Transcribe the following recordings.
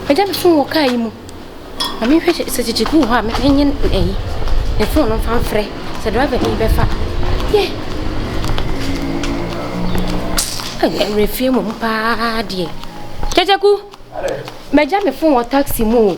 Agya me fon wɔ kaa yi mu. Ma me nhwɛ sɛ kyekye gu hɔ a me nye ɛyi. Ne fon no mfa mfrɛ sɛ driver bi bɛfa. Yɛ. Ɛmmerɛ fie mu paa deɛ. Kyekyeku. Magya me fon wɔ taxi mu o.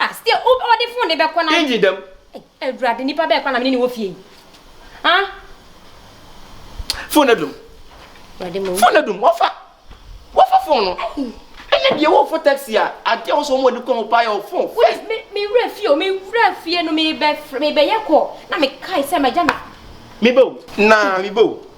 Ah sdeɛ wo ɔde phone de bɛkɔ na. Engyi dɛm. Ei awurade nipa bɛɛ kwan na mene ne wɔ fie yi ah. Phone no adum. Awurade mo. Phone no adum wafa wafa phone no. Ɛnɛ deɛ wo fo taxi a adeɛ wɔ so wɔn ani kɔn ho paa yɛ wɔ phone wo. Yes me me wura fie o me wura fie no me bɛ fr me bɛ yɛ call na me kae sɛ ma gya me. Me bɛ o naa me bɛ o.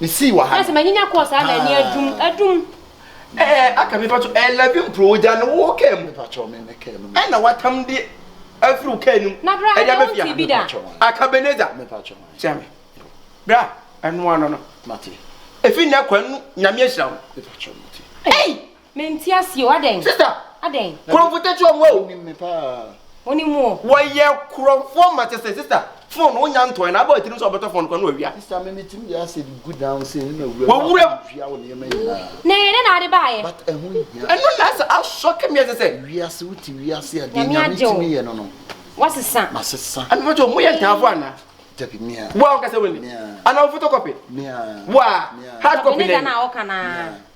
Me sii wɔ ha no. Ɛsɛ ma nyinya kɔɔ saa na ani adum adum. Ɛɛ aka mi patro ɛɛ labi mpro ogya no wɔ kaa mu. Patro me me kaa mu. Ɛna watam di afiri wo kaa nim. Na bra ɛdi abɛ fia. Me patro wan. Aka beneza. Me patro wan. Kyɛ me. Bra ɛnoa no no. Mate. Efi nɛ kɔ ɛnu nyame ahyira wo. Me patro mate. Ei. Me nte aseɛ o, adɛn? Sista. Adɛn? Kurɔnfo tɛkyɛ ɔmo o. Wonim me paa. Wonim mo o. Wɔyɛ kurɔnfoɔ ma kyɛ sɛ sista. Phone wo nya ntɔɛ na abɔ atirim sɛ ɔbɛtɔ phone kora na wawia. Sista me me tirim yɛ asɛ de gu down sei ne na wuram. Wawuram. Wia wo nneɛma nyinaa. Na ɛyɛ dɛ na ade baayɛ. But ɛho nhia. Ɛno na asɛ asɔ kɛ me ɛsɛ sɛ. Wiase wo te wiase a deɛ Nyame tumi yɛ no no. Wasesa. Masesa. Ɛna mɛkyɛ ɔmo yɛ ntaafo anaa. Dabi me a. Wo a wo kasa wani. Me a. Anaa wo photocopy. Me a. Wo a. Me a. Hard copy na ɛyɛ. Ɛne da na ɔka naa. Me a.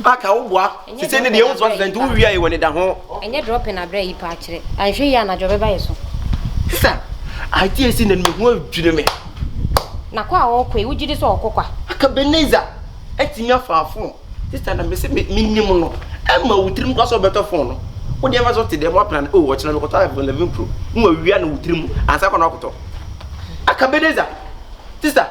Baka wo boa. Sisi ne deɛ wosɔ sɛ nti wo wia yi wɔ ne da ho. Ɛnyɛ dropping abrɛ yi paa kyerɛ. Anhwɛ yi anadwo bɛba yɛ so. Sisa, adeɛ esi na ne ho adwiri me. Na kwa a ɔkɔ yi wogye di sɛ ɔkɔ kwa? Aka Beneza atumi afa afon. Sisa na mese me nim no. Ɛma wo tirim kwa sɛ ɔbɛtɔ fon no. Wo deɛ mfa sɛ ɔte dɛm waplan o oh, ɔkyena mekɔtɔ iPhone 11 Pro. Mo awia no wo tirim ansa kɔ na ɔkɔtɔ. Aka Beneza. Sisa.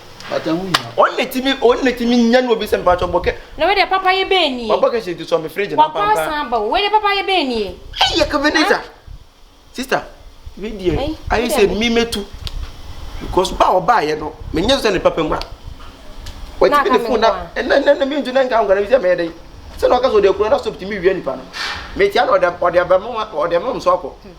wɔn na timi wɔn na timi nya no obi sɛ mpatsɔ bɔ kɛ. na wei deɛ papa yɛ bɛyɛ nie. wabɔ kɛse nti sɔ mi fridge na pampa. wakɔ asan ba o wei deɛ papa yɛ bɛyɛ nie. ɛyi yɛ kaveneza sista wei deɛ ayɛ sɛ mi mɛ tu because ba ɔbaa yɛ no mɛ nyɛ sɛ ne papa mu a. wɔtumi de fon na ɛnɛ ɛnɛ mi ntu ne nka nkwa na mi sɛ mɛ yɛ dɛ sɛ na ɔka sɛ ɔde akura na sɔp ti mi wia nipa no mɛ tia na ɔde ɔde abɛmo ɔde ɛmɛ ɔmo so akɔ.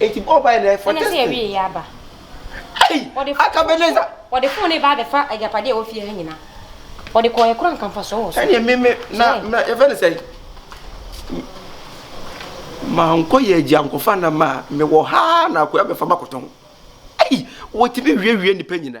Eti bɔ ɔbaa yɛ for testing. Ɛna sɛ yɛwie yɛ aba. Ei! Aka Ebenezer. Ɔde fon ne ba abɛfa agyapadeɛ a ɛwɔ fie ha nyina. Ɔde kɔɔ yɛ kora nka mfasoɔ wɔ so. Ɛne me me na na yɛfɛ ne sɛn? Mankɔ yɛ agyi ankɔfa nam a mewɔ ha na akoya bɛfa makɔtɔn. Ei! Wɔtumi wiawie nnipa nyina.